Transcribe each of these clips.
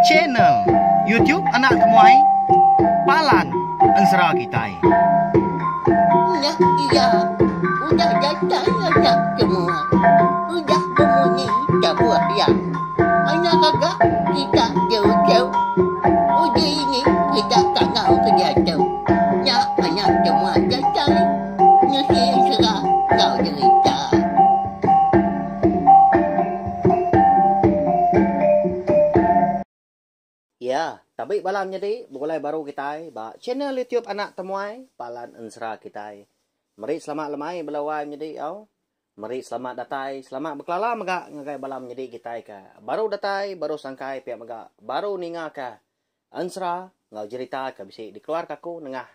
Channel YouTube Anak Temuai Palan Ensera Kitai. Ulah iya udah datai anak temuai. Udah bemunyi tabuh iya. Anak gaga kita jauh-jauh. Udah ini kita tangau ke diatu. Nya anak temuai datai. Nusi ensera enggau derita. Iya, tabi bala menyadi begulai baru kitai ba channel YouTube Anak Temuai Palan Ensera kitai. Meri selamat lemai bela wai menyadi au. Meri selamat datai, selamat bekelala mega ngagai bala menyadi kitai ke baru datai, baru sangkai pia mega baru ninga ke ensera enggau jerita ke bisi dikeluarka aku nengah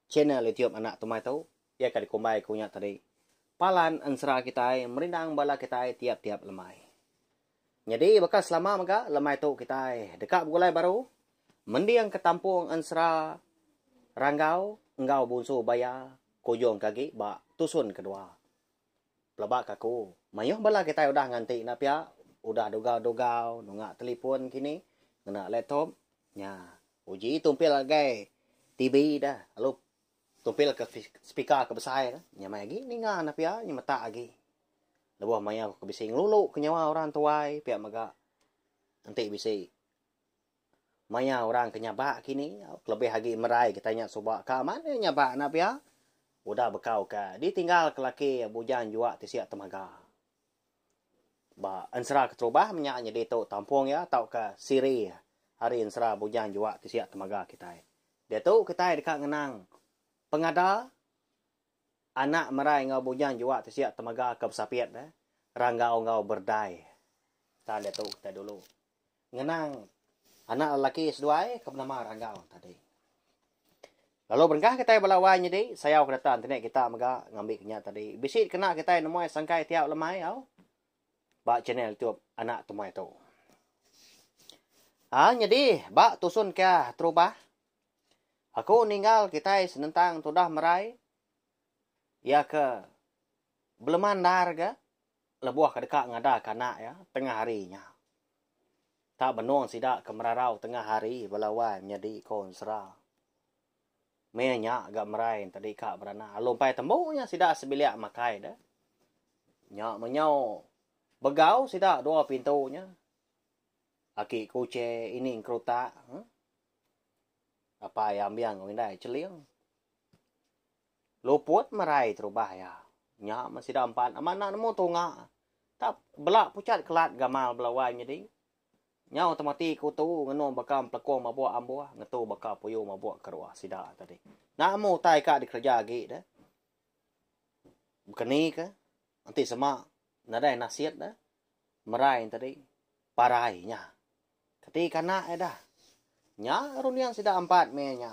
channel YouTube Anak Temuai tu. Iya ka dikumbai ku nya tadi, Palan ensera kitai merindang bala kitai tiap-tiap lemai. Nyadi baka selama mega, lemai tu kitai deka begulai baru mending ke tampung ensera Ranggau enggau Bunsu Baya kujung ke agi ba tusun kedua. Pelaba ke aku, mayuh bala kitai udah nganti enda pia, udah dugau-dugau nunga telefon kini, ngena laptop, nya uji tumpil ngagai TV dah lalu Tumpil ke speaker ke besai tu, nya mai agi ninga anak pia nya metak agi. Lebuh maya aku ke bisi ngelulu ke nyawa orang tuai pia mega enti bisi maya orang ke nyabak kini kelebih agi merai kitai nya suba ka amat nya nyabak anak pia udah beka ukai ditinggal ke laki bujang jua tisi temaga. Ba ensera keterubah menya nyedi tu tampung iya tauka siri ari ensera bujang jua ti siap temaga kitai. Diatu kitai deka ngenang pengada anak merai enggau bujang jua ti siap temaga ke besapit ranggau enggau berdai. Tan diatu kitai dulu. ngenang anak lelaki seduai ke benama Ranggau tadi. Lalu berengkah kitai bala wai nyedi, sayau ke data entene kita mega ngambika nya tadi. Bisi dikena kitai nemuai sangkai tiap lemai au ba channel YouTube Anak Temuai tu. Ha nyedi ba tusun kia terubah. Aku ninggal kitai senentang tudah merai. Ia ke belema ndar ga lebuh ke deka ngadaka anak iya tengah hari nya. Ka benung sida ke merarau tengah hari bala wai nyadi konsera. Meh nya ga merai enti deka beranak lalu empai tembu nya sida sebilik makai deh. Nya meh nyau begau sida dua pintu nya. Aki kuche, ining kerutak. Apai ambing enggau indai cheling. Luput merai terubah iya. Nya meh sida empat amat enda nemu tunga. Tap bela pucat kelat gamal bela wai nyadi. Nyau tama ti ke utu ngenu baka empelekong mabuk ambuh ngetu baka puyu mabuk keruh sida tadi. Nama utai ka dikereja agi deh? Bekenika. Enti sema nadai nasit da merai enti tadi parai nya keti kanak ida. Nya runding sida empat meh nya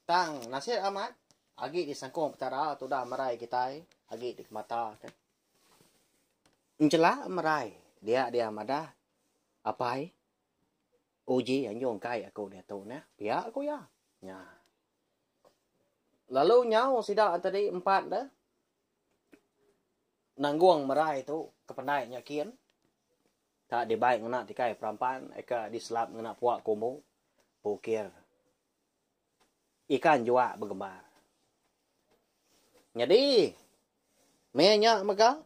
tang nasit amat agi di sengkung petara tudah merai kitai agi di kemata ke. Enchela merai dia dia madah apai uji anjung kai aku diatu neh pia ku iya. Nya. Lalu nyau sida tadi empat da. nanggung merai tu ke pendai nya kin ka dibai ngena tikai perampan eka diselap ngena puak ke umbu pukir ikan juak begembar. Nyadi meh nya mega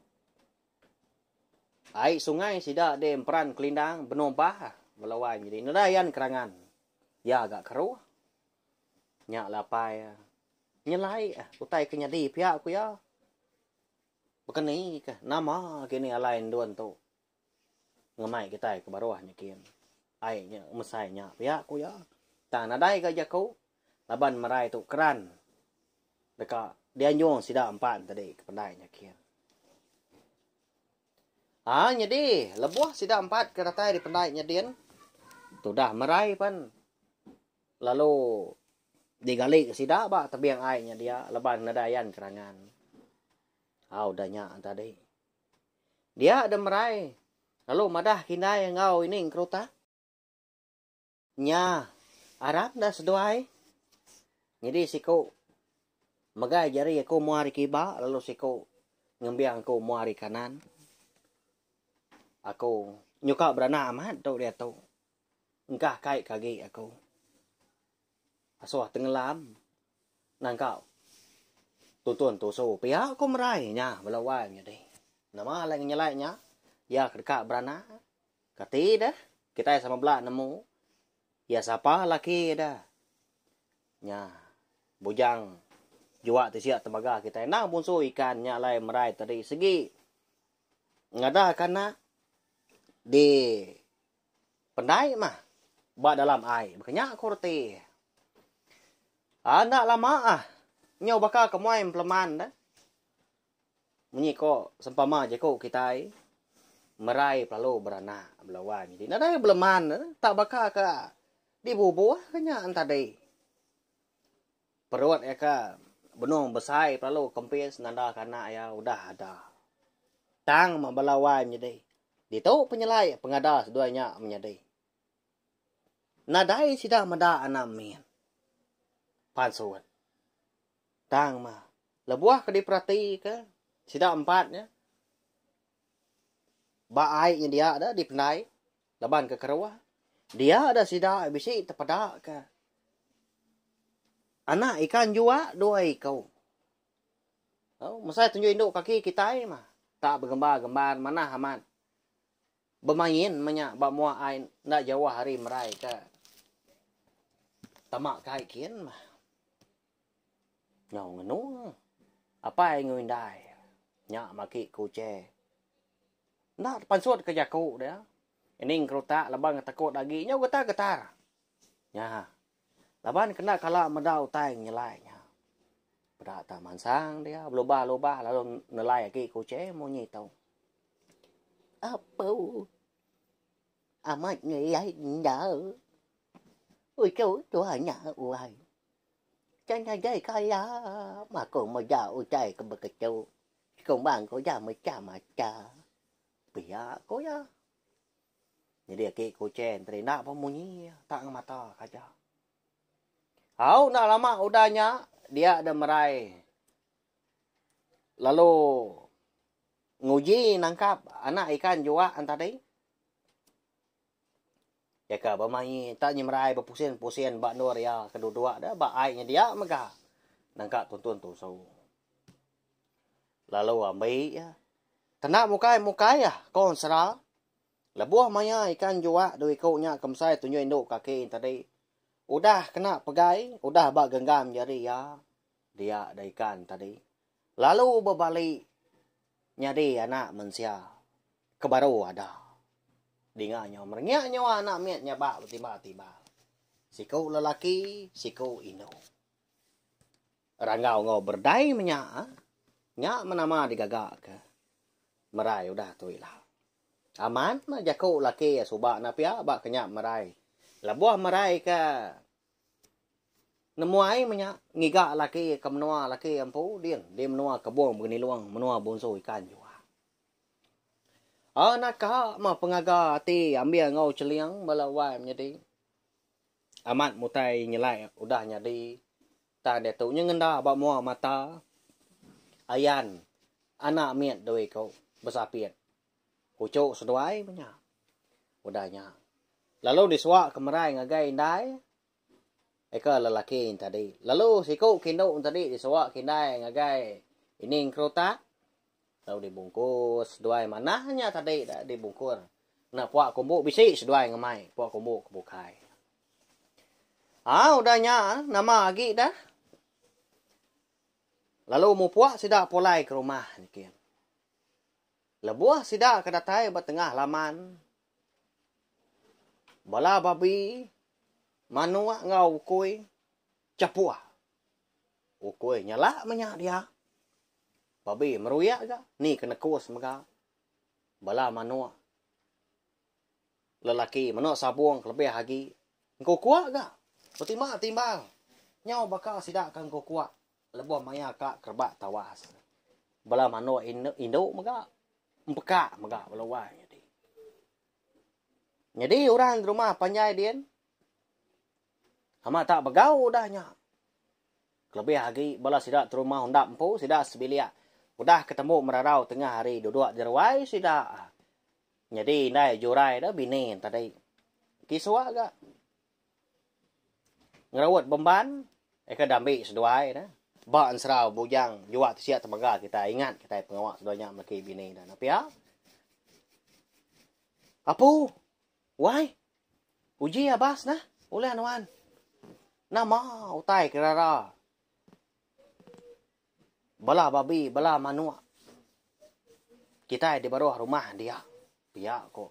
ai sungai sida di emperan kelindang benung bah belawan nyadi nadai yan kerangan ya ga keruh. Nya la apai nyelai utai ke nyadi pia ku iya. Bekenika nama agi ni alai endur ento ngemai kitai ke baruh nyikin. Ai nya mesai nya pia ku iya. Tang nadai ga jaku laban merai tu keran deka dianjung sida empat tadi ke pendai nyikin. Ha nyadi lebuh sida empat ke datai ari pendai nyadin tudah merai pen. Lalu digali ke sida ba tebing ai nya dia leban nadai ayan kerangan. Ha udah nya tadi. Dia de merai lalu madah kindai enggau ini engkeruta. Nya aram dah seduai. Nyadi siku megai jari aku mua ari kiba lalu siku ngembing aku mua ari kanan. Aku nyuka beranak amat tu diatu. Engkah kai ke agi aku. Asoh tengelam nangka tuntun tusu pia ko merai nya bela wai nyadi. Nama alai ngenyelai nya ya ke deka beranak kati deh kitai sama bela nemu ya sapa laki deh. Nya bujang jua ti sia tebaga kitai endang bunsu ikan nya alai merai tadi segi ngadah ke anak di Pendai mah ba dalam ai baka nya ku reti. Ah enda lama ah nyau baka ke muai empleman deh. Munyi ko sempama jeku kitai merai pelalu beranak bela wang jadi nadai beleman tak baka ka dibubuh ke nya entadi. Perut iya ke benung besai pelalu kempis nandaka anak iya udah ada. Tang meh bala wai menyedi. Ditu penyelai pengada seduai nya menyedi. Nadai sida meda anak min. Pansut. Tang meh, lebuh ke diperatika sida empat nya ba ai nya dia dipendai. Laban ke kerewa, dia da sida bisi tepeda ke anak ikan jua dua iku. Tau, mesai tunjuk indu kaki kitai mah. Tak begembar-gembar manah amat. Bemain menya ba mua ai enda jauh ari merai ke tama kai kin mah. Nyau ngenu. Apai enggau indai. Nya maki ku Uche. Enda tepansut ke jaku dia. Ining kerutak laban ngetekut agi nyau getar-getar. Nya. Laban kena kala meda utai ngelai nya. Peda tang mansang dia belubah-lubah lalu nelai agi ku Uche munyi tu. Apu. Amat ngeliai enda. Utuh tu anya uai. Chan nadai kala makung meda utai ke beketu. Sekumbang ko ja mecha mata. Pia ko ja. Nyedi aki ko Chen terina pa munyi ya. Tak ngemata kaja. Au enda lama udah nya dia de merai lalu Nguji nangkap anak ikan juak entadi. Jaka bemaie tak nyemerai bepusin-pusin ba endur iya ke duduk de ba ai nyedia mega nangka tuntun tusu. Lalu ambi iya kena mukai-mukai iya ko ensera. Lebuh maia ikan juak dua iku nya ke mesai tunjui endu kaki entadi udah kena pegai udah ba genggam jari iya dia da ikan entadi. lalu bebali nyadi Anak Mensia ke baru ada. Dinga nyau merengyak nyawa anak mit nyabak betiba-tiba. Siku lelaki, siku indu. Ranggau enggau berdai menya ah. Nya menama digaga ke. Merai udah tu ila. Amat mah jaku laki suba na pia ba kenyap merai. Lebuh merai ke Nemu ai menya ngiga laki ke menua laki empu ding di menua Kebong Benilong menua Bonso Ikan Juak. Anak ka meh pengaga ati ambil enggau Cheling bala wai menyadi. Amat mutai nyelai udah nyadi tang diatu nyengenda ba mua mata ayan anak mit dui ku besapit. Puchok seduai meh nya. Udah nya, lalu disuak ke merai ngagai indai eka lelaki entadi. Lalu siku ke indu entadi disuak ke indai ngagai ini engkerutak lalu dibungkus seduai manah nya tadi dah dibungkur ngena puak kumbu bisi seduai ngemai puak kumbu ke bukai. Ha udah nya nama agi dah lalu mupuk sida pulai ke rumah nyikin. Lebuh sida ke datai ba tengah laman, bala babi, manuk enggau ukui chapur. Ukui nyelak menya dia. Babi meruyak ga ni ke nekus mega bala manuk. lelaki menoa sabong kelebih agi engkukua ga betimba timbal nyau baka sida ka engkukua leboh maia ka kerebak tawas bala manoa indu mega empeka mega bala wai nyadi nyadi orang rumah panjai din amat tak begau udah nya kelebih agi bala sida terumah undap empu sida sebilik udah ketemu merarau tengah hari duduk jeruai sida. Nyadi indai jurai tu bini tadi. Ti suah ga. Ngeraut bemban eh ke dambi seduai ne. Ba enserau bujang jua ti sia temega kitai ingat kitai pengawa seduai nya meleki bini ne enda pia. Apu. Wai. Uji abas nah. Ulih nuan. Nama utai kerara. Bala babi, bala manuk kitai di baruh rumah dia, pia ku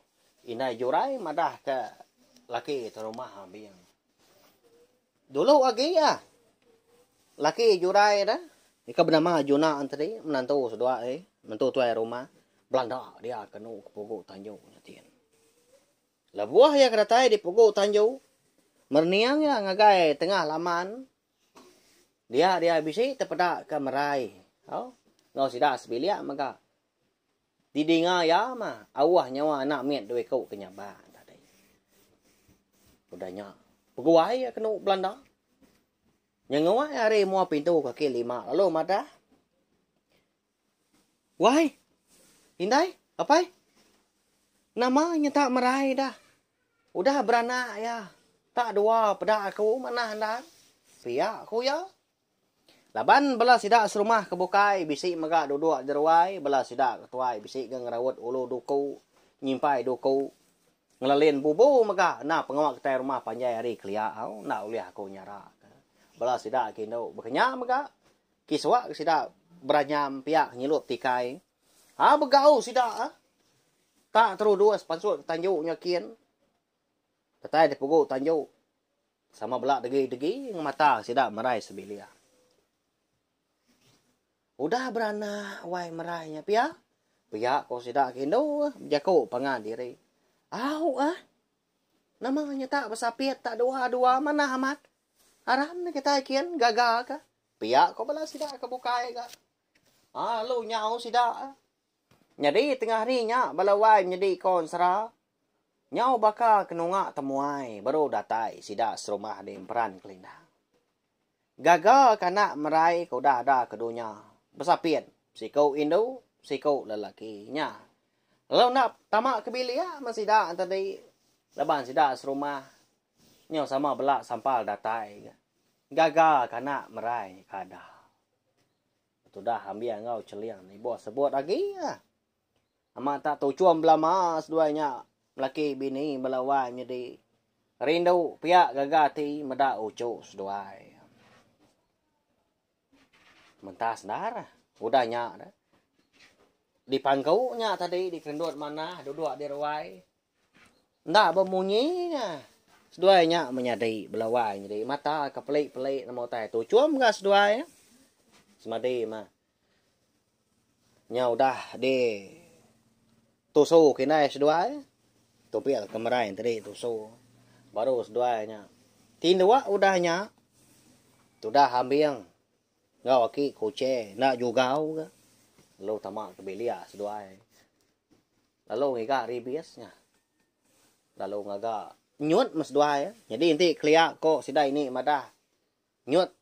Indai Jurai madah ke laki tu rumah Abing. Dulu agi iya, laki Jurai tu ika benama Juna tadi, menantu sedua ai, menantu tuai rumah, belanda dia kenu ke pugu Tanju nya tin. Lebuh iya ke datai di pugu Tanju, merening iya ngagai tengah laman Dia dia bisi tepeda ke merai. Au. Enggau sida sebilik mega. Di dinga iya mah auh nyawa anak mit dua iku ke nyabak tadi. Udah nya peguai iya kenu belanda. Nyenguai ari mua pintu kaki lima lalu madah Wai! Indai, apai! Nama nyentak merai da? Udah beranak iya, tak dua peda aku manah endang. Pia ku iya. Laban bela sida serumah ke bukai bisi mega duduk jeruai, bela sida ke tuai bisi ga ngeraut ulu duku, nyimpai duku, ngelelin bubu mega enda pengawa kitai rumah panjai ari kelia au, enda ulih aku nyaraka. Bela sida ke indu bekenya mega. Ti suah ke sida beranyam piak nyilup tikai. Haa begau sida ah. Tak terudus pansut ke tanju nya kin. Datai deh pegu tanju. Sama bela degi degi ngemata sida merai sebilik. Udah beranak wai merai nya pia. Pia ko sida ke indu ah bejaku pangan diri. Au ah. Nama nya tak besapit tak dua dua manah amat. Aram kitai kin gaga ka. Pia ko bala sida ke bukai ga lalu nyau sida. Nyadi tengah hari nya bala wai menyedi ko ensera nyau baka ke nunga temuai baru datai sida serumah di emperan kelinda. Gaga ke anak merai ke udah ada ke dunya besapit siku indu siku lelaki nya lalu enda tama ke bilik men sida tadi laban sida serumah Nyau sama bela sampal datai ga. Gaga kanak merai kada. Betudah ambi anggau celing ni ibuh sebut agi ga. Amat tak tuchum belama seduai nya laki bini bela wai nyedi rindu pia gaga ti meda uchu seduai. Mentah sendar udah nya dipangku nya tadi dikendut manah duduk di ruai Enda bemunyi nya. Seduai nya menyadi bela wai nyadi mata ke peli-peli nama utai tu. Chum mega seduai nya. Semadi mah. Nya udah di tusu ke indai seduai. Tu pia ke merai tadi tusu. Baru seduai nya. Tinduk udah nya. Tudah ambing. Enggau aki kuching. Enda jugau ke. Lalu tama ke bilik seduai. Lalu ngiga ribis nya. Lalu ngaga nyut meh seduai. Nyadi enti kelia ko sida ini madah nyut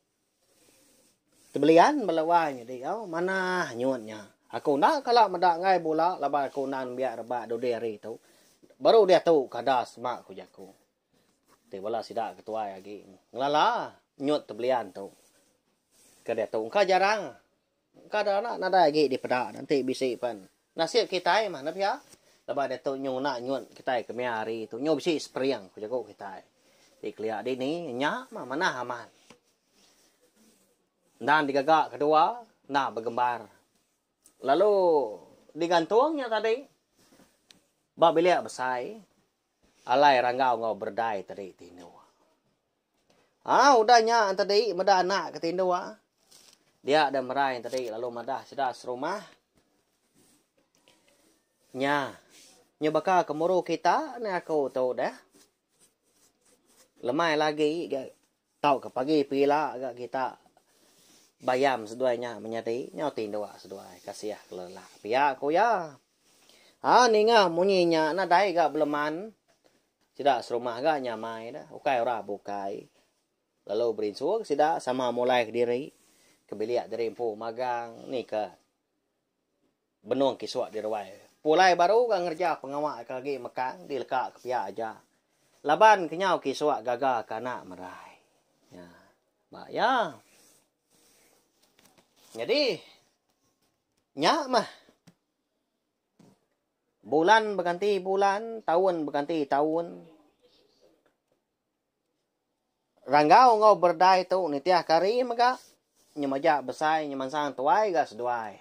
tebelian bala wai nyadi au manah nyut nya. Aku enda kala meda enggai bula laban aku enda nembiak rebak dudi hari tu. Baru diatu kada sema ku jaku. Ti bala sida ke tuai agi ngelala nyut tebelian tu ke diatu engka jarang engka da anak nadai agi dipeda ne enti bisi pen nasib kitai mah ne pia laban diatu nyu ngena nyut kitai ke mia hari tu nyu bisi spring ku jaku kitai ti kelia dini nya mah manah amat endang digaga kedua enda begembar lalu digantung nya tadi ba bilik besai. Alai ranggau enggau berdai te dei tindu. Ha udah nya ente dei meda anak ke tindu ah. Dia deh merai ente dei lalu madah sida serumah. Nya. Nya baka ke muru kita ne aku tu deh. Lemai lagi Tauka pagi pila ga kita bayam seduai nya menyadi nyau ti ndua seduai kasih kelelak pia ku iya. Ha ninga munyi nya nadai ga beleman sida serumah ga nyamai da ukai orang bukai lalu berinsu ke sida sama mulai kediri ke bilik diri empu magang ni ke. Benung kisuk di ruai. Pulai baru ga ngereja pengawa ke agi mekang di leka ke pia aja. Laban kenyau kisuk gaga ke anak merai. Nya ba iya. Nyadi nya mah. Bulan beganti bulan, taun beganti taun. Ranggau enggau berdai tu nitih kari mega nyemaja besai nyemansang tuai ga seduai.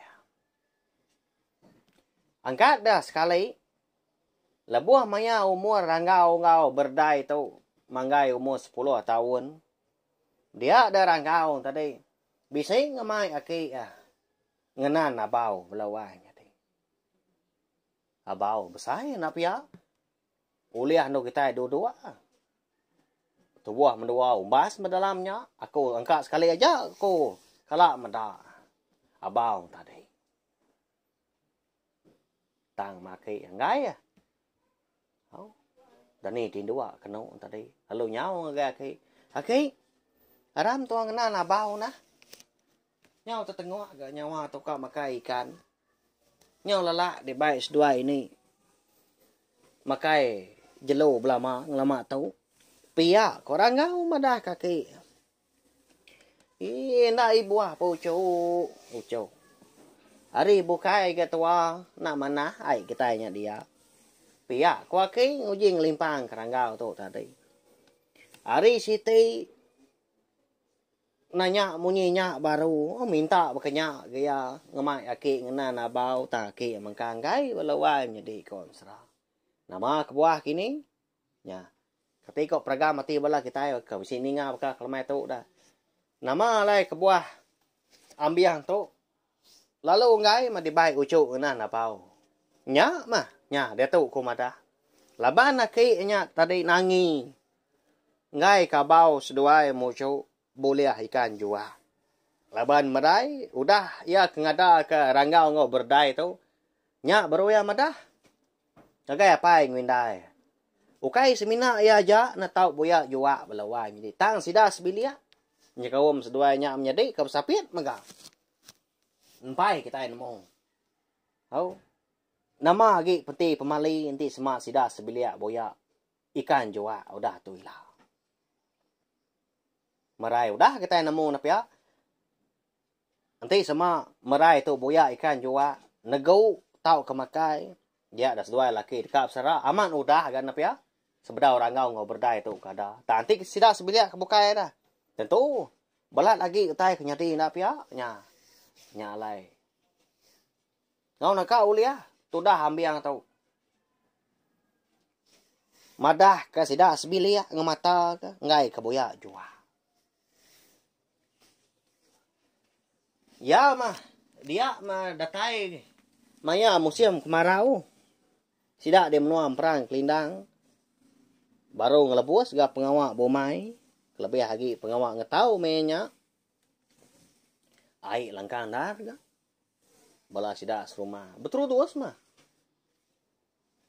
Angkat deh sekali lebuh maya umur ranggau enggau berdai tu manggai umur sepuluh taun dia deh ranggau tadi bisi ngemai aki eh ngenan abau bela wai. Abau besai enda pia. Ulih anu kitai duduk tubuh mendua umbas meh dalam nya, aku engka sekali aja ku kala meda Abang tadi. Tang maki enggai ah. Au. Dani ti dua kenu tadi. Lalu nyau ngagai aki. Aki, aram tuan kenal Abang nah. Nyau tetengok ga nyawa tu ka makai ikan. Nyau lala dibai seduai ini makai jelu belama ngelama tu pia ko orang enggau madah ke aki ii enda ibuh pa uchu uchu ari bukai ga tua enda manah ai kitai nya dia pia ko aki nguji ngelimpang ke rangau tu tadi ari siti Nanya munyi nya baru minta baka nya agi iya ngemai aki ngena nabau tang aki mengkang enggai bala wai nyedi konsra. Nama kebuah kini? Nya. Kati ko peragam ati bala kitai ke bisi ninga baka kelemai tu udah. Nama alai kebuah ambih tu? Lalu Onggai meh dibai uchu ngena Napau. Nya meh, nya diatu ku madah. Laban aki nya tadi nangi enggai kabau seduai muchu bulih ikan jua. Laban merai udah iya ke ngadaka Ranggau enggau Berdai tu, nya baru iya madah. Ngagai apai Nguindai, ukai semina iya aja ne tau buya jua bala wai menyadi tang sida sebilik nyekaum seduai nya menyadika besapit mega empai kitai nemu. Au. Nama agi peti pemali enti sema sida sebilik buya ikan jua udah tu ila. Merai udah kitai nemu ne pia Enti sema merai tu buyak ikan jua negu tau ke makai dia da seduai laki deka besera amat udah ga ne pia sebedau rangau enggau berdai tu ke ada tang enti sida sebilik ke bukai ida tentu belat agi utai ke nyadi enda pia nya nya alai enggau naka ulih tudah ambing tu madah ke sida sebilik ngemata ke enggai ke buyak jua. Iya mah dia mah datai maya musim kemarau. Sida di menua Emperan Kelindang baru ngelebus ga pengawa bumai kelebih agi pengawa ngetau meh nya ai langkang ndar ga bala sida serumah beterudus mah.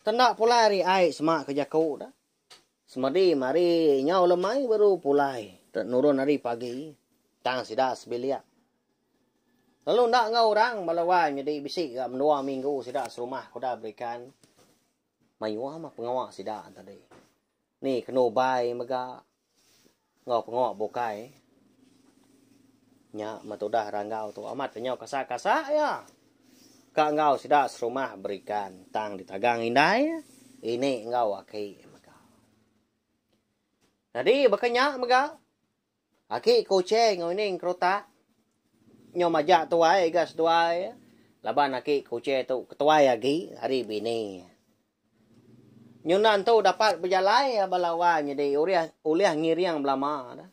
Tenda pulai ari ai sema ke jaku da. Semedi mari nyau lemai baru pulai te nurun ari pagi tang sida sebilik. Lalu enda enggau orang bala wai nyedi bisi ga mendua minggu sida serumah ke udah berikan mayuh mah pengawa sida tadi. Ni kena ubai mega enggau pengawa bukai nya meh tudah ranggau tu amat kenyau kasa-kasa iya. Ka enggau sida serumah berikan tang ditagang indai ini enggau aki mega. Nyadi baka nya mega Aki ke Uche enggau ini engkerutak nyau majak tuai ga seduai iya. Laban aki ke Uche tu ketuai agi ari bini iya. Nyuna entu dapat bejalai iya bala wang nyadi ulih ulih ngiring belama da.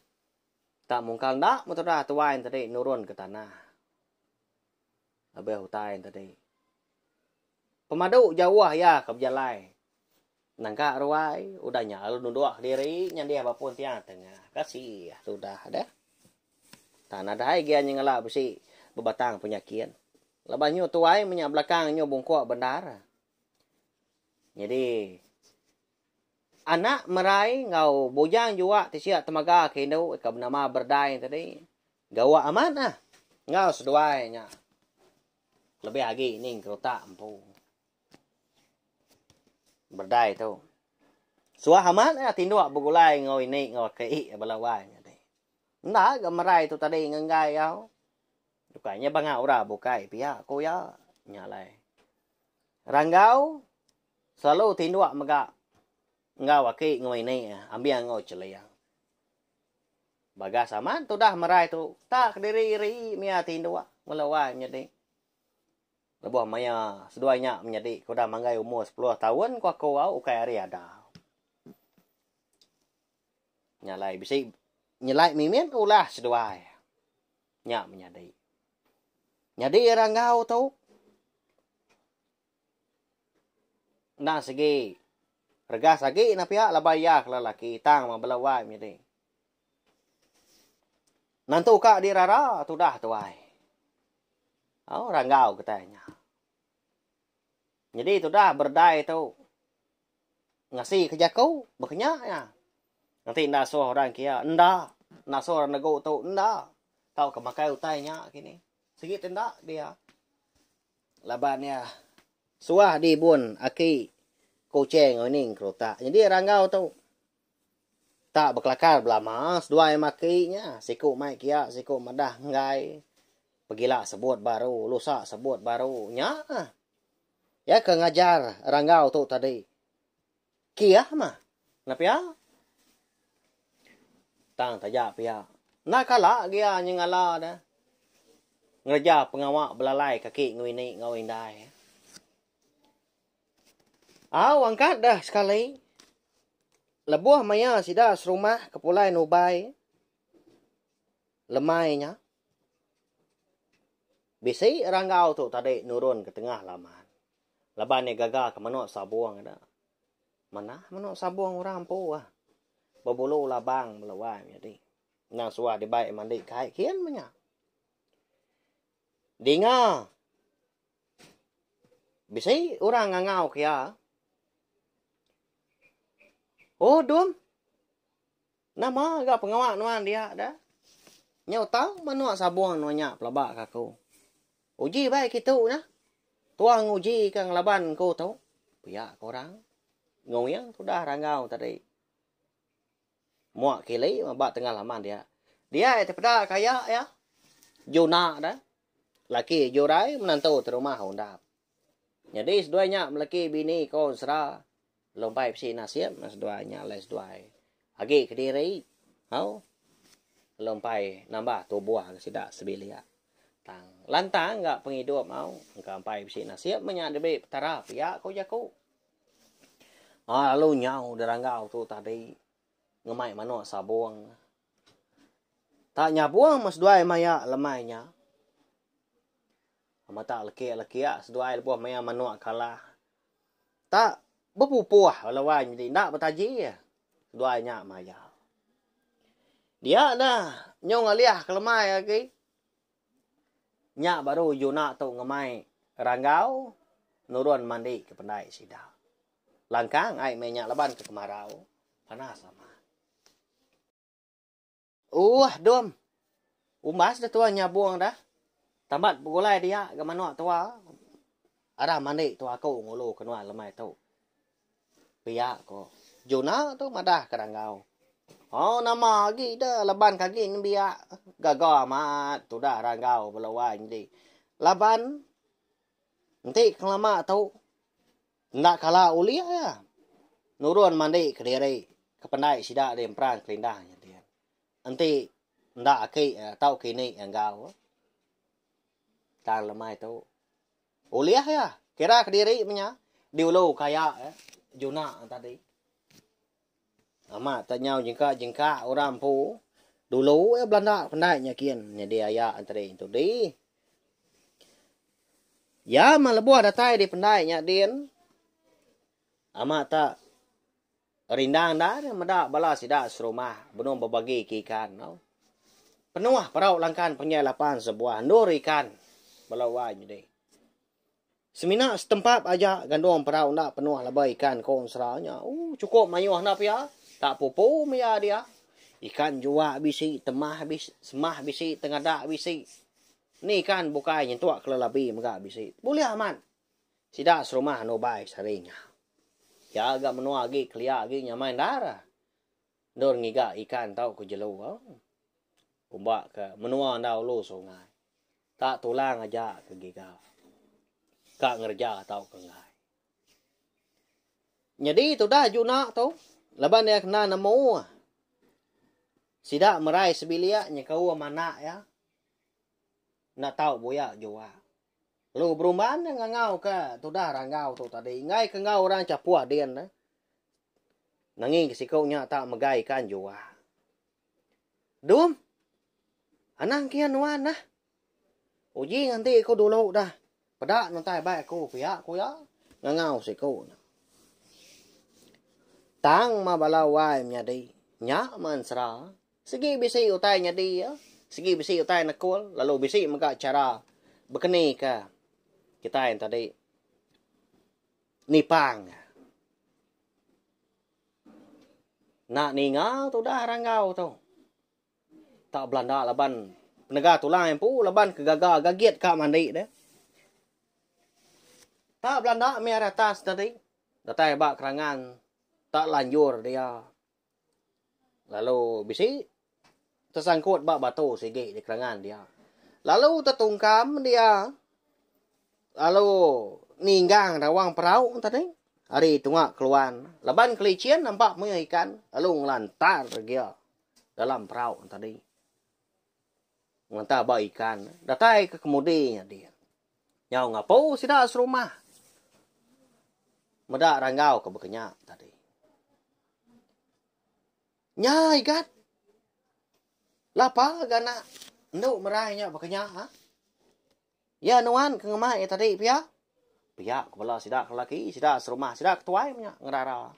Tak mungkal enda metudah tuai enti nurun ke tanah. Lebih utai enti tadi. Pemadu jauh iya ke bejalai. Nangka ruai, udah nya lalu nunduk diri nyandih ba pun tiang tengah. Kasih sudah deh. Tak nadai gia nyengela besi bebatang penyakit. Lepas nyu tuai menya belakang nyu bungkuk bendar. Jadi anak merai enggau bujang juak ti siak temaga ke indu ika benama berdai tadi gawa amat ah enggau seduai nya lebih agi ning kerutak empu berdai tu suah amat ah tinduk begulai enggau ini enggau aki bala wai nya tadi enda ga merai tu tadi ngenggai au bukai nya banga orang bukai pia ku iya nya alai ranggau Selalu tinduk mega enggau aki enggau ini ambing enggau cheling. Bagas amat tudah merai tu tak kediri iri mia tinduk mula wai menyadi. Lebuh maya seduai nya menyadi ke udah manggai umur sepuluh taun ku aku au ukai ari adau. Nya alai bisi nyelai mimit ulah seduai nya menyadi. Nyadi ra enggau tu. Endang sigi. Regas agi nah pia laban iya ke lelaki tang mah bela wai menyadi. Nentu ka dirara tudah tuai. Oh, ranggau getai nya. Nyadi tudah berdai tu ngasi ke jaku bekenya nya. Nanti enda suh orang kia, enda. Enda suh orang negu tu, enda. Tau ke makai utai nya kini. Sigi ti enda dia. Laban iya suah di bun aki Kuching ngening kerutak nyedi ranggau tu. Tak bekelakar belama, seduai maki nya, siku mai kia, siku madah enggai. Pegila sebut baru, lusa sebut baru. Nya. Iya ke ngajar ranggau tu tadi. Kiah mah. Enda pia. Tang taja pia. Enda kala gia nyengala ne ngereja pengawa belalai kaki enggau ini enggau indai. Au angkat deh sekali. Lebuh maya sida serumah ke pulai nubai lemai nya, bisi ranggau tu tadi nurun ke tengah laman. Laban iya gaga ke menoa sabong enda. Manah menoa sabong orang empu ah. Bebulu labang bela wang nyadi. Nang suah dibai mandi kai kin menya. Dinga bisi orang ngangau ke iya. Oh dum. Nama ga pengawa nuan dia da? Nyau tang menua sabung nuan nya pelaba ka aku. Uji bai kitu na. Tuang nguji ka ngelaban ku tu. Pia ka orang. Nguing tudah ranggau tadi. Muak kili maba tengah laman dia. Dia te peda kaya ya. Juna da. Laki jurai menantu terumah undap. Nyadi seduai nya meleki bini ko ensera lumbai bisi nasib nah seduai nya alai seduai agi kediri hau lumbai nambah tubuh ga sida sebilik tang lantang ga pengidup hau engka ampai bisi nasib meh nya dibi petara pia ko jaku ah lalu nyau deranggau tu tadi ngemai manuk sabung tak nyabung meh seduai maya lemai nya. Matak leki leki a seduai lebuh maya manuk kala ta bepupuh bala wan nyadi enda betaji seduai nya maya dia da nyong alih kelemai agi nya baru juna tu ngemai ranggau nurun mandi ke pendai sida langkang ai meh nya laban ke kemarau panas amat. Uuh dum. Umbas deh tua nyabung deh. Tambat begulai dia ga manok tua. Arah mandi tua aku ngulu ke nuan lemai tu. Pia ko. Juna tu madah ke ranggau. Hau nama agi de laban ke agi nembiak. Gaga amat tudah ranggau bela wai nyadi. Laban enti ke lama tu. Enda kala ulih iya nurun mandi kediri ke pendai sida di Emperan Kelindah nya din. Enti enda aki tau kini enggau tang lemai tu ulih iya kira kediri menya di ulu kaya juna tadi. Amat tau nyau jengka jengka orang empu. Dulu eh belanda pendai nyakin nyadi aya enteri ntu dih. Iya mah lebuh datai di pendai nya din amat ta rindang enda nya meda bala sida serumah benung bebagi ke ikan tau. Penuh parau langkan panjai lapan sebuah endur ikan bala wai nya dih. Semina setempap aja gandung perau enda penuh laban ikan ko ensera nya. Ooh chukup mayuh enda pia. Tak pupu maya dia. Ikan jua bisi, temah bisi, semah bisi, tengadak bisi. Ni ikan bukai nyentuk kelelabi mega bisi. Bulih amat. Sida serumah anu bai sehari nya. Pia ga menua agi kelia agi nyamai endar. Endur ngiga ikan tau ku jelu. Ooh. Kumba ke menua enda ulu sungai. Tak tulang aja ke giga. Ka ngereja tauka enggai. Nyadi tudah Juna tu laban iya kena nemu sida merai sebilik nyekaum anak iya enda tau buya jua. Lalu berumban iya ngangauka tudah ranggau tu tadi enggai ke enggau orang chapuh din tu. Nanging ke siku nya tak megai ikan jua. Dum. Anang kian nuan nah. Uji nganti aku dulu dah. Peda nuntai bai aku pia ku iya ngangau siku ne. Tang ma bala wai menyadi. Nya ma ensera. Sigi bisi utai nyadi ya. Sigi bisi utai nekul lalu bisi mega chara bekeni ke kitai tadi nipang. Enda ninga tudah ranggau tu. Tak belanda laban penega tulai empu laban ke gaga gagit ka mandi dia. Tak belanda meh ari atas tadi. Datai ba kerangan tak lanjur dia. Lalu bisi Tesangkut ba batu sigi di kerangan dia. Lalu tetungkam dia lalu ninggang rawang perau tadi ari tunga keluan. Laban Kelichin nampak mih ikan lalu ngelantar gia dalam perau tadi. Ngelantar ba ikan datai ke kemudi nya dia. Nyau ngapu sida serumah. Meda ranggau ke bekenya tadi. Nya igat. Lapa gana endu merai nya baka nya ha? Ya nuan ke ngemai iya tadi pia. Pia ke bala sida ke lelaki, sida serumah, sida ke tuai nya ngerara.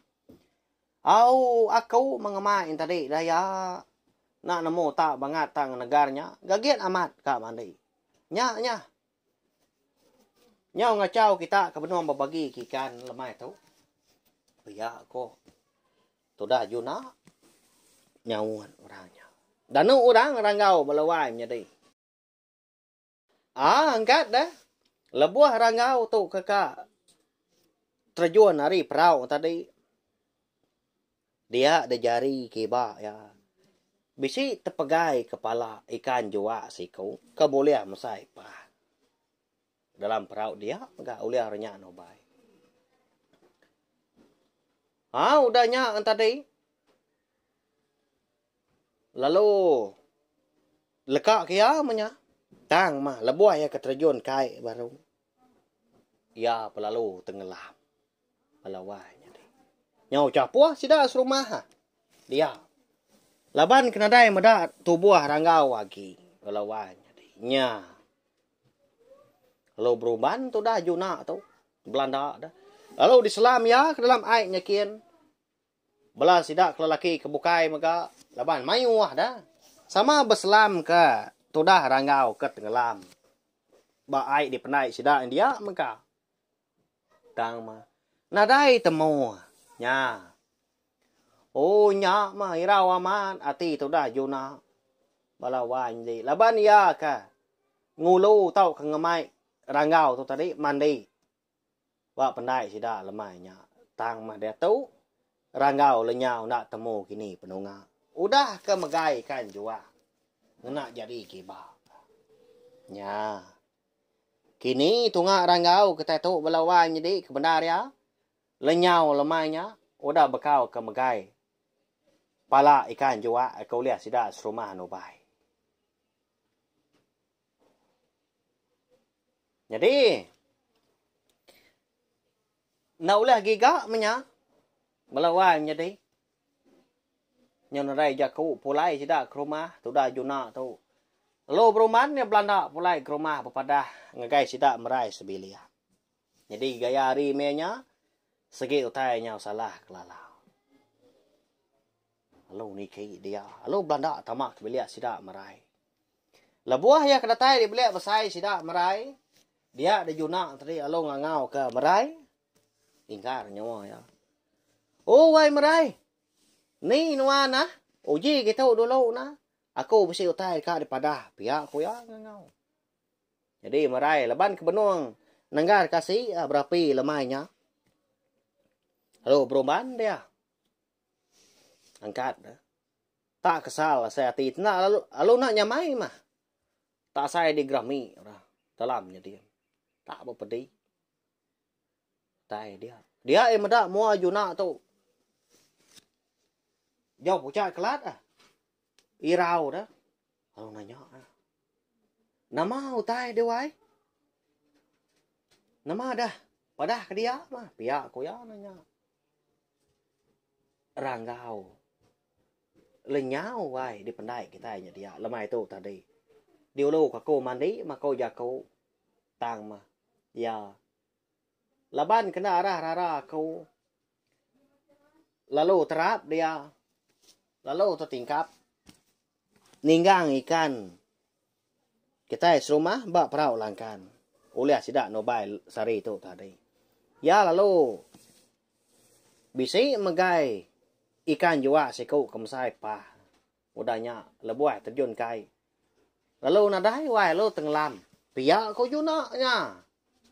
Au aku mengemai yang tadi daya nak nemu tak bangat tak ngenegar nya, gagit amat ka mandi. Nya nya. Nyau ngacau kita ke benung bebagi ke ikan lemai tu. Pia ko. Tudah juna nyaut orang nya. Danu orang ranggau bala wai menyadi. A angkat dah. Lebuh ranggau tu keka terjun ari perau tadi. Dia dejari kiba ya. Bisi tepegai kepala ikan jua siku ke bulih mesai pan. Dalam perau dia ga ulih ari nya nubai. Ha udah nya tadi lalu leka ke iya meh nya tang mah lebuh iya ke terjun kai baru iya belalu tengelam bala wai nyadi. Nyau chapoh sida serumah ha dia laban ke nadai meda tubuh ranggau agi bala wai nyadi nya Lalu beruban tu dah juna tu. Belanda dah. Lalu diselam ya ke dalam ai nyakin. Bela sida ke lelaki ke bukai mega laban mayuh dah. Sama beselam ke tudah ranggau ke tenggelam. Ba ai dipendai sida india mega. Tang ma. Nadai temu. Nya. Oh nya ma irau amat ati tudah Juna. Bala wan di laban iya ka ngulu tau ka ngemai ranggau tu tadi mandi. Ba pendai sida lemai nya. Tang mah diatu ranggau lenyau enda temu kini penunga. Udah ka megai kan jua. Ngena jadi kiba. Nya. Kini tunga ranggau kitai tu bela wai nyedi ke bendar iya, lenyau lemai nya udah bekau ke megai pala ikan juak ke ulih sida serumah nubai. Nyadi enda ulih giga menya bela wai menyedi. Nyenrai jaku pulai sida ke rumah tuda Juna tu. Lalu beruman iya belanda pulai ke rumah bepadah ngagai sida merai sebilik. Nyadi gaya ari meh nya segi utai nyau salah ke lala. Lalu niki dia, lalu belanda tama ke bilik sida merai. Lebuh iya ke datai di bilik besai sida merai, dia di Juna tadi lalu ngangau ke merai. Tingkar nyawa iya. Oh wai merai. Ni nuan ah? Uji ke tu dulu nah. Aku bisi utai ka dipadah pia ku iya ngangau. Jadi merai laban ke benung nenggar kasi ah, berapi lemai nya. Lalu berumban dia. Angkat dah. Tak kesal asai ati tenda lalu lalu nak nyamai mah. Tak asai di gerami ora. Dalam jadi. Tak bepedi. Utai dia. Dia eh meda mua juna tu. Jau pucat kelat ah. Irau dah. Kalau nanya ah. Nama utai dia wai? Nama dah? Padah ke dia mah. Pia ko ya nanya. Ranggau. Lenyau wai dipendai kita nya dia. Lemai tu tadi. Diulu kako mandi, mako jako. Tang mah iya. Laban kena arah rara aku lalu terap dia lalu tetingkap ninggang ikan kitai serumah ba perau langkan ulih sida nubai sehari tu tadi. Iya lalu bisi megai ikan jua siku kemesai pah. Udah nya lebuh terjun ke ai. Lalu nadai wai lalu tengelam. Pia ko Juna nya.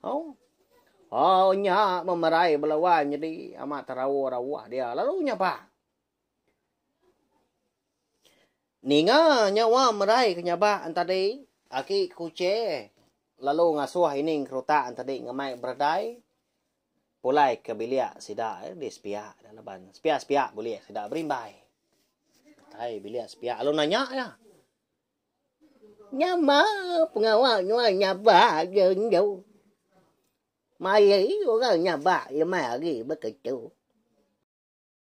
Au. Au nya memerai bela wai nyedi amat terawa-rawa dia lalu nyapa. Ninga nya wa merai ke nyaba entadi aki kuche lalu ngasuh ining kerutak entadi ngemai beredai. Pulai ke bilik sida di sepiak ida laban sepiak-sepiak bulik sida berimbai. Utai bilik sepiak lalu nanya iya. Nyama pengawa nuan nyabak je endu. Mai hari orang nyabak lemai hari beketu.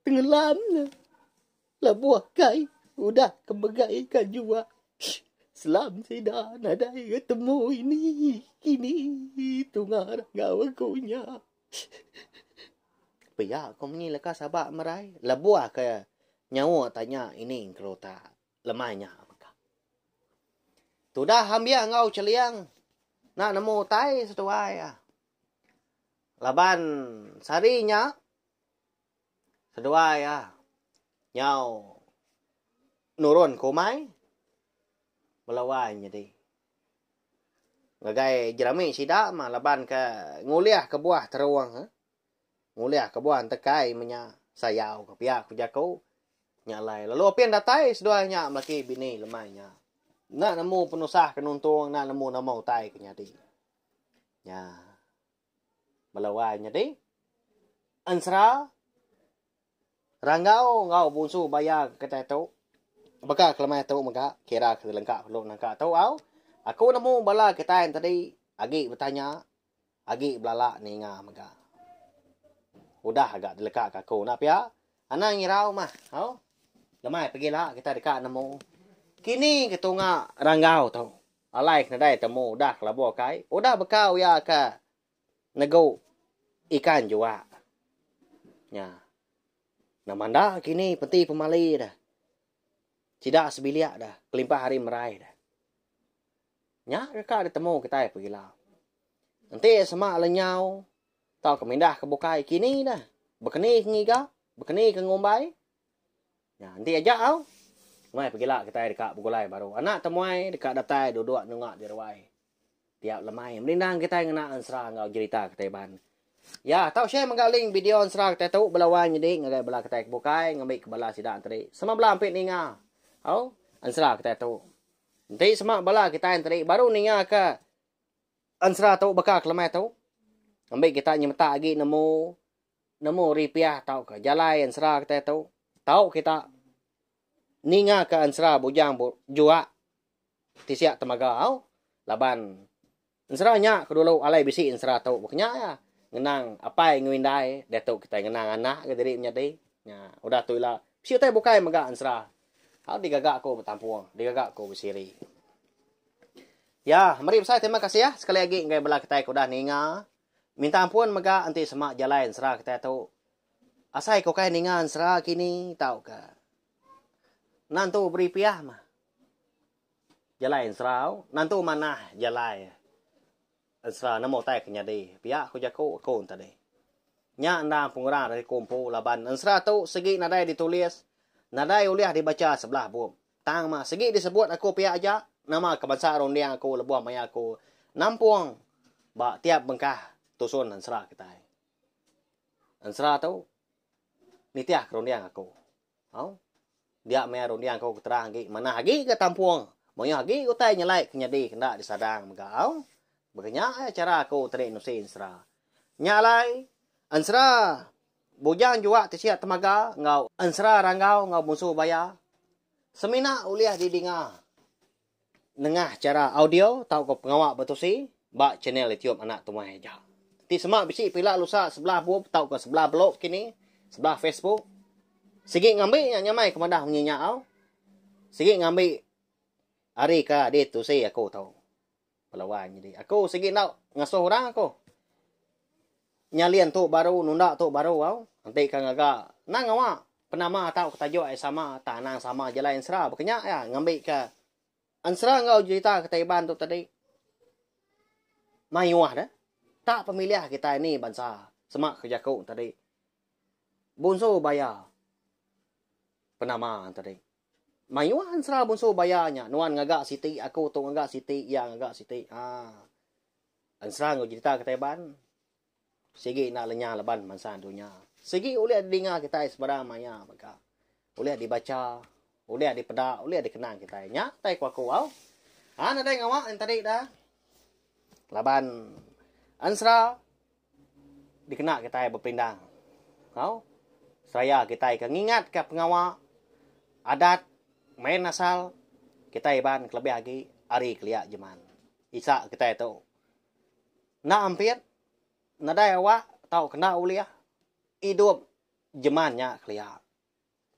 Tenggelam ne labuh kai udah ke megai ka jua selam sida nadai ga temu ini kini tunga ragau aku nya. Pia ku munyi leka Saba merai labuh ke nyauk tanya ini engkau uta lemai nya mega. Tudah ambik enggau Cheliang enda nemu utai seduai iya. Laban sehari nya. Seduai iya nyau nurun ke umai bela wai nyadi. Ngagai jerami sida mah laban ke ngulih kebuah terung eh. Ngulih kebuah entekai meh nya sayau ke pia ku jaku nya alai. Lalu apin datai seduai nya melaki bini lemai nya. Enda nemu penusah ke nuntung enda nemu nama utai ke nyadi. Nya. Melawai nyadi ensera Ranggau enggau Bunsu Baya ke kitai tu. Baka kelemai tu mega kira ke lengka perlu nangka tu au. Aku nemu bala kitai tadi agi betanya, agi belala ninga mega. Udah ga dileka ka aku enda pia. Anang irau mah au. Lemai pagila kitai deka nemu kini ketunga Ranggau tu. Alai ke nadai temu udah ke labuh kai, udah beka uya ke negu ikan jua nya. Nama enda kini penti pemali deh sida sebilik deh kelimpah ari merai deh. Nya deka ditemu kitai pegila. Enti sema lenyau tauka mindah ke bukai kini neh bekeni ke ngiga, bekeni ke ngumbai. Nya enti aja au. Meh pegila kitai deka begulai baru. Anak temuai deka datai duduk nengok di ruai tiap lemai menindang kitai ngena ensera enggau jerita kitai iban. Ya, tau share mega link video ensera kitai tu bela wang nyadi ngagai bala kitai ke bukai ngambika bala sida enteri sama bela ampi ninga au ensera kitai tu. Enti sama bala kitai enteri baru ningaka ensera tu baka ke lemai tu ngambi kita nyemetak agi nemu nemu ripiah tauka jalai ensera kitai tu, tau kita ningaka ensera bujang bu juak ti sia temaga au laban ensera nya ke dulu alai bisi ensera tu ba kenya iya ngenang apai enggau indai diatu kitai ngenang anak ke diri menyadi nya udah tu ila bisi utai bukai mega ensera au digaga ku betampung digaga ku besiri. Ya meri besai terima kasih sekali agi ngagai bala kitai ke udah ninga. Minta ampun mega enti sema jalai ensera kitai tu. Asai ke ukai ninga ensera kini tauka nantu beri piah mah jalai ensera au, nantu manah jalai ensera nemu utai ke nyadi pia ku jaku aku enti tadi. Nya enda pengurang ari ku empu laban ensera tu sigi nadai ditulis, nadai ulih dibacha sebelah bup. Tang mah segi disebut aku pia aja nama ke bansa runding aku lebuh maya aku nampung ba tiap bengkah tusun ensera kitai. Ensera tu nitih ke runding aku. Au. Dia maya runding aku ke terang agi manah agi ke tampung mayuh agi utai nyelai ke nyadi ke enda disadang mega au. Baka nya aja chara aku tadi nusi ensera. Nya alai ensera. Bujang juak tisia temaga enggau ensera ranggau enggau munsu baya. Semina ulih didinga nengah chara audio tauka pengawa betusi ba chanel YouTube Anak Tumai Aja. Enti sema bisi pila lusa sebelah bub tauka sebelah blog kini, sebelah Facebook, sigi ngambi nya nyamai ke madah munyi nya au. Sigi ngambi ari ka di tusi aku tu. Pelawan nyadi. Aku sigi enda ngasuh orang aku. Nyalin tu baru nunda tu baru au. Enti ka ngaga nang ngawa penama tau ke tajuk ai sama tang anang sama aja alai ensera baka nya iya ngambi ka ensera enggau jerita kitai Iban tu tadi mayuh deh. Tak pemilih kitai ni bansa sema ke jaku tadi. Bunsu baya penama tadi. Mayuh ensera bunsu baya nya, nuan ngaga siti, aku tu ngaga siti, iya ngaga siti. Ha. Ensera enggau jerita kitai ban sigi enda lenyah laban bansa dunya. Sigi ulih didinga kitai sebarang maya mega. Ulih dibacha, ulih dipeda, ulih dikenang kitai. Nya utai ku aku au. Ha nadai ngawa enti tadi dah. Laban ensera Dikena kitai bepindang enggau seraya kitai ke ngingatka pengawa, adat, main asal kitai Iban kelebih agi ari kelia jeman isa kitai tu. Enda ampit, nadai awak tau kena ulih idup jeman nya kelia.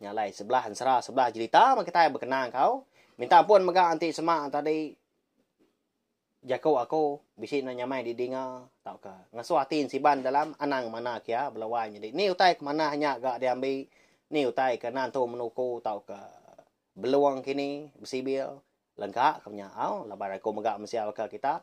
Nya alai sebelah ensera sebelah jerita meh kitai bekena engkau. Minta ampun mega enti sema tadi jaku aku bisi enda nyamai didinga tauka ngasuh ati ensiban dalam anang mana kia bela wai nyadi ni utai ke manah nya ga diambi ni utai ke enda entu menuku tauka belong kini besibil lengka ke nya au laban aku mega mensia baka kita.